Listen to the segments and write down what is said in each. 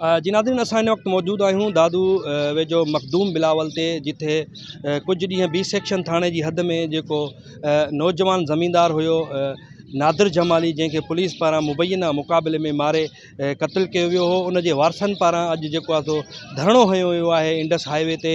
جي ناظرين اسان هن وقت موجود آهيون دادو ويجهو مخدوم بلاول تي جتي ڪجهه ڏينهن بي سيڪشن ٿاڻي جي حد ۾ جيڪو نوجوان زميندار هيو نادر جمالي جنهن کي پوليس پاران مبينا مقابلي ۾ ماري قتل ڪيو ويو هو ان جي وارثن پاران اڄ جيڪو آهي سو ڌرڻو هنيو ويو آهي انڊس هاء وي تي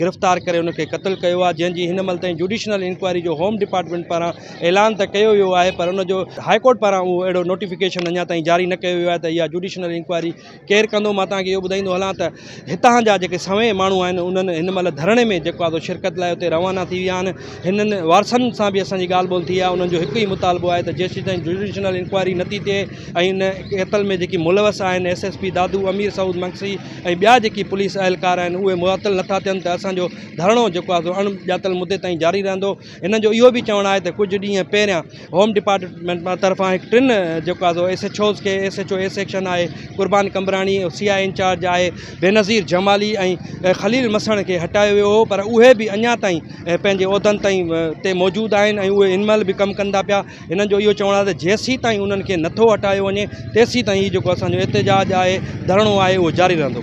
گرفتار ڪري ان کي قتل ڪيو آهي جنهن جي هن مهل تائين جوڊيشنل انڪوائري جو هوم ڊپارٽمينٽ پاران اعلان ته ڪيو ويو آهي پر ان جو هاء ڪورٽ پاران اهو اهڙو نوٽيفڪيشن اڃا تائين جاري نه ڪيو ويو آهي ته اها جوڊيشنل انڪوائري ڪير ڪندو مان توهان کي اهو ٻڌائيندو هلان ته هتان جا جيڪي سوين ماڻهو آهن انهن هن مهل ڌرڻي ۾ جيڪو آهي شرڪت لاء اتي روانا ٿي ويا آهن هنن وارثن سان به اسان جي ڳالهه ٻولهه ٿي آهي انهن جو هڪ ئي مطالبو آهي ته جيسين تائين جوڊيشنل انڪوائري نٿي ٿئي ۽ ان قتل ۾ جيڪي ملوث آهن S S P Dadu Amir Saud Mangsi ۽ ٻيا جيڪي پوليس اهلڪار آهن اهي معطل نٿا ٿين ته اسان جو ڌرڻو جيڪو آهي سو اڻ ڄاتل مدي تائين جاري رهندو هنن جو اهو به چوڻ آهي ته ڪجهه ڏينهن پهريان هوم ڊپارٽمينٽ طرفان هڪ ٽن جيڪو آهي سو ايس ايڇ اوز کي S H O A section آهي قربان قمبراڻي سي آء انچارج آهي بينظير جمالي ۽ خليل مسڻ کي هٽايو ويو هو پر اهي به اڃا تائين پنهنجي عهدن تائين تي موجود آهن ۽ اهي هن مهل به ڪم ڪندا پيا هنن جو اهو چوڻ آهي ته جيسيتائين انهن کي نٿو هٽايو وڃي تيسيتائين هي جيڪو اسانجو احتجاج آهي ڌرڻو آهي اهو جاري رهندو